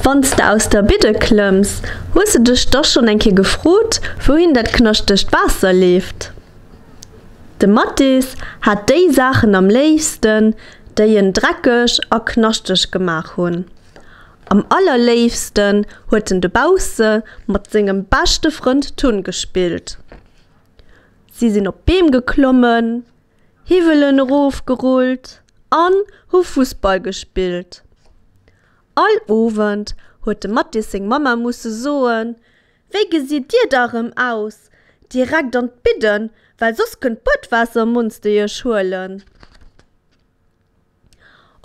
Wann s de aus der Bidde klëmms, hues de dech da schonn eng Kéier gefrot, wouhin dat knaschtegt Waasser leeft? De Mathis hat déi Saachen am léifsten, déi en dreckeg a knaschteg gemaach hunn. Am allerléifsten huet en dobausse mat sengem beschte Frënd Tun gespillt. Si sinn op Beem geklommen. Hiwwelen erof gerullt an hu Fussball gespillt. All Owend huet de Mattis seng Mamma musse soen, Wéi gesitt dir da rëm aus? Direkt an d'Bidden, well soss kënnt d'Buedwaassermonster iech huelen.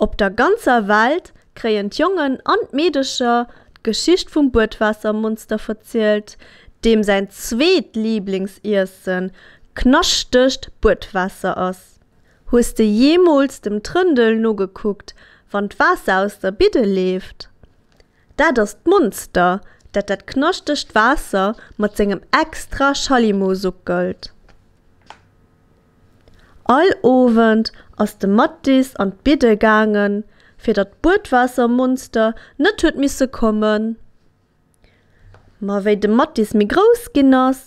Op der ganzer Welt kréien d'Jongen an d'Meedecher d'Geschicht vum Buedwaassermonster verzielt, deem säin zweet Liblingsiessen knaschtegt Buedwaasser ass. Hues de jeemools dem Trëndel nogekuckt, wann d'Waasser aus der Bidde leeft? Dat ass d'Monster, dat dat knaschtegt Waasser mat sengem extra Schallimo suckelt. All Owend ass de Mattis an d'Bidde gaangen, fir datt d'Buedwaassermonster net huet misse kommen. Ma wéi de Mattis méi grouss ginn ass,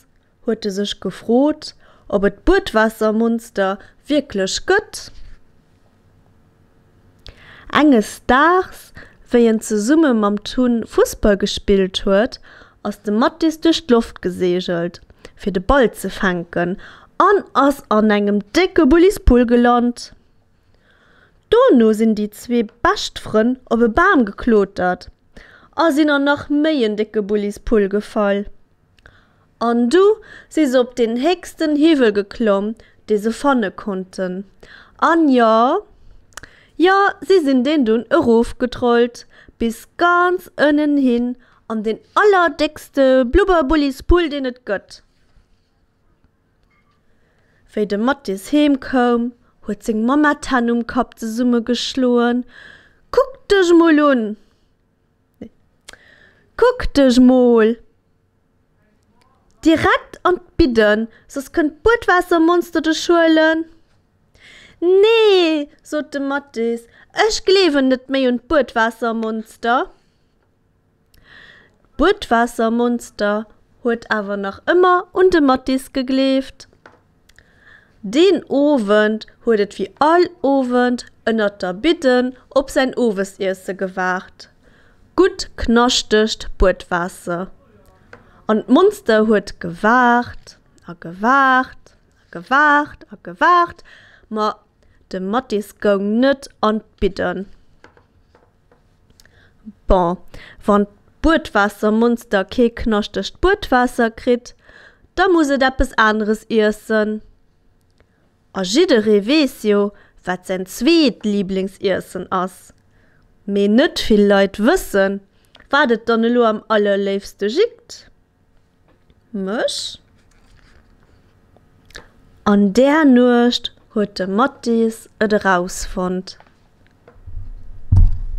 huet e sech gefrot, ob et d'Buedwaassermonster wierklech gëtt. Enges Daags, wéi en zesumme mam Tun Fussball gespillt huet, ass de Mattis duerch d'Loft geseegelt, fir de Ball ze fänken an ass an engem décke Bullispull gelant. Dono sinn déi zwee bescht Frënn op e Bam geklotert a sinn an nach méi en décke Bullispull gefall. An du si se op deen héchsten Hiwwel geklomm, dee se fanne konnten. An jo, jo, si sinn deen dunn erofgetrollt bis ganz ënnen hin an deen allerdéckste Blubberbullispull, deen et gëtt. Wéi de Mattis heem koum, huet seng Mamma d'Hänn um Kapp zesummegeschloen, Kuck dech mol un! Kuck dech mol direkt an d'Bidden, soss kënnt d'Buedwaassermonster dech huelen. Nee, sot de Mathis, ech gleewen net méi un d'Buedwaassermonster. D'Buedwaassermonster huet awer nach ëmmer un de Mathis gegleeft. Deen Owend huet et wéi all Owend ënnert der Bidden op säin Owesiesse gewaart, gutt knaschtegt Buedwaasser. An d'Monster huet gewaart a gewaart a gewaart a gewaart, ma de Mathis goung net an d'Bidden. Bon, wann d'Buedwaassermonster kee knaschtegt Buedwaasser kritt, da muss et eppes aneres iessen. A jidderee weess jo, wat säin zweet Liblingsiessen ass. Mee net vill Leit wëssen, wat et dann elo am allerléifste jitt. Mech. An där Nuecht huet de Mathis et erausfonnt.